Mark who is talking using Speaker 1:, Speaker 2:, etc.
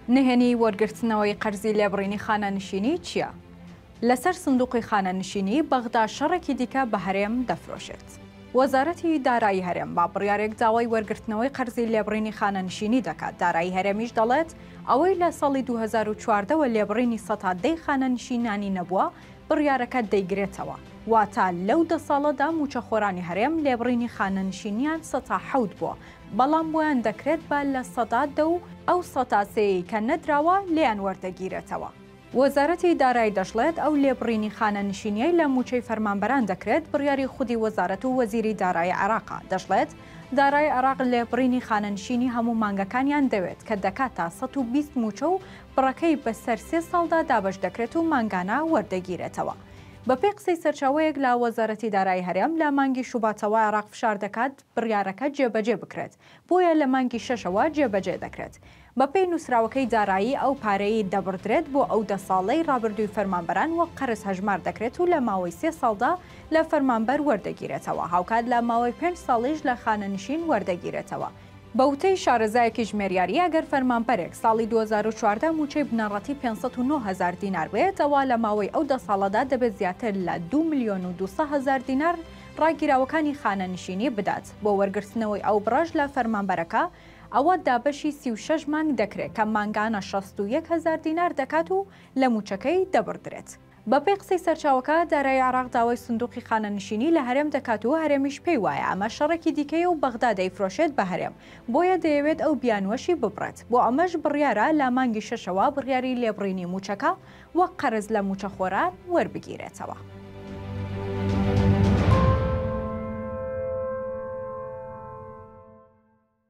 Speaker 1: نهێنی وەرگرتنەوەی قەرزی لێبڕینی خانەنشینی چییە؟ لەسەر سندوقی خانەنشینی بەغدا شەڕێکی دیکە بە هەرێم دەفرۆشێت. وەزارەتی دارایی هەرێم با بڕیارێک داوای وەرگرتنەوەی قەرزی لێبڕینی خانەنشینی دەکات، دارایی هەرێمیش دەڵێت، ئەوەی لە ساڵی دوو هەزار و چواردە وە لێبڕینی سەتا دەی خانەنشینانی نەبووە، بڕیارەکە دەیگرێتەوە، واتە لەو دە ساڵەدا مووچەخۆرانی هەرێم لێبڕینی خانەنشینییان سەتا حەوت بووە، بەڵام بۆیان دەکرێت با لە سەدا دە و ئەو سەتا سێیەی کە نەدراوە لێیان وەردەگیرێتەوە. وەزارەتی دارای دەشڵێت، ئەو لێبڕینی خانەنشینییەی لە مووچەی فەرمانبەران دەکرێت بڕیاری خودی وەزارەت و وەزیری دارایی عێراقە، دەشڵێت، دارای عێراق لێبڕینی خانەنشینی هەموو مانگەکانیان دەوێت کە دەکاتە سەد و بیست مووچە و بڕەکەی بەسەر سێ ساڵدا دابەش دەکرێت و مانگانە وەردەگیرێتەوە. بەپێی قسەی سەرچاوەیەک لە وەزارەتی دارایی هەرێم، لە مانگی شوباتەوە عێراق فشار دەکات، بڕیارەکە جێبەجێ بکرێت، بۆیە لە مانگی شەشەوە جێبەجێ دەکرێت. بەپێی نووسراوەکەی دارایی ئەو پارەیەی دەبڕدرێت بۆ ئەو دە ساڵەی رابردووی فەرمانبەران وەک قەرز هەژمار دەکرێت و لە ماوەی سێ ساڵدا لە فەرمانبەر وەردەگیرێتەوە، هاوکات لە ماوەی پێنج ساڵیش لە خانەنشین وەردەگیرێتەوە. بە وتەی شارەزایەکی ژمێریاری، ئەگەر فەرمانبەرێک ساڵی دوو هەزار و چواردە مووچەی بنەڕەتی پێنج سەد و نۆ هەزار دینار بێت، ئەوا لە ماوەی ئەو دە ساڵەدا دەبێت زیاتر لە دوو ملیۆن و دوو سەد هەزار دینار ڕاگیراوەکانی خانەنشینی بدات بۆ وەرگرتنەوەی ئەو بڕەش لە فەرمانبەرەکە، ئەوە دابەشی سی و شەش مانگ دەکرێت کە مانگانە شەست و یەک هەزار دینار دەکات و لە مووچەکەی دەبڕدرێت. بەپێی قسەی سەرچاوەکە، دارایی عێراق داوای سندووقی خانەنشینی لە هەرێم دەکات و هەرێمیش پێی وایە ئەمە شەڕێکی دیکەیە و بەغدا دەیفرۆشێت بە هەرێم، بۆیە دەیەوێت ئەو بیانووەشی ببڕێت، بۆ ئەمەش بڕیارە لە مانگی شەشەوە بڕیاری لێبڕینی مووچەکە وەک قەرز لە مووچەخۆران وەربگیرێتەوە.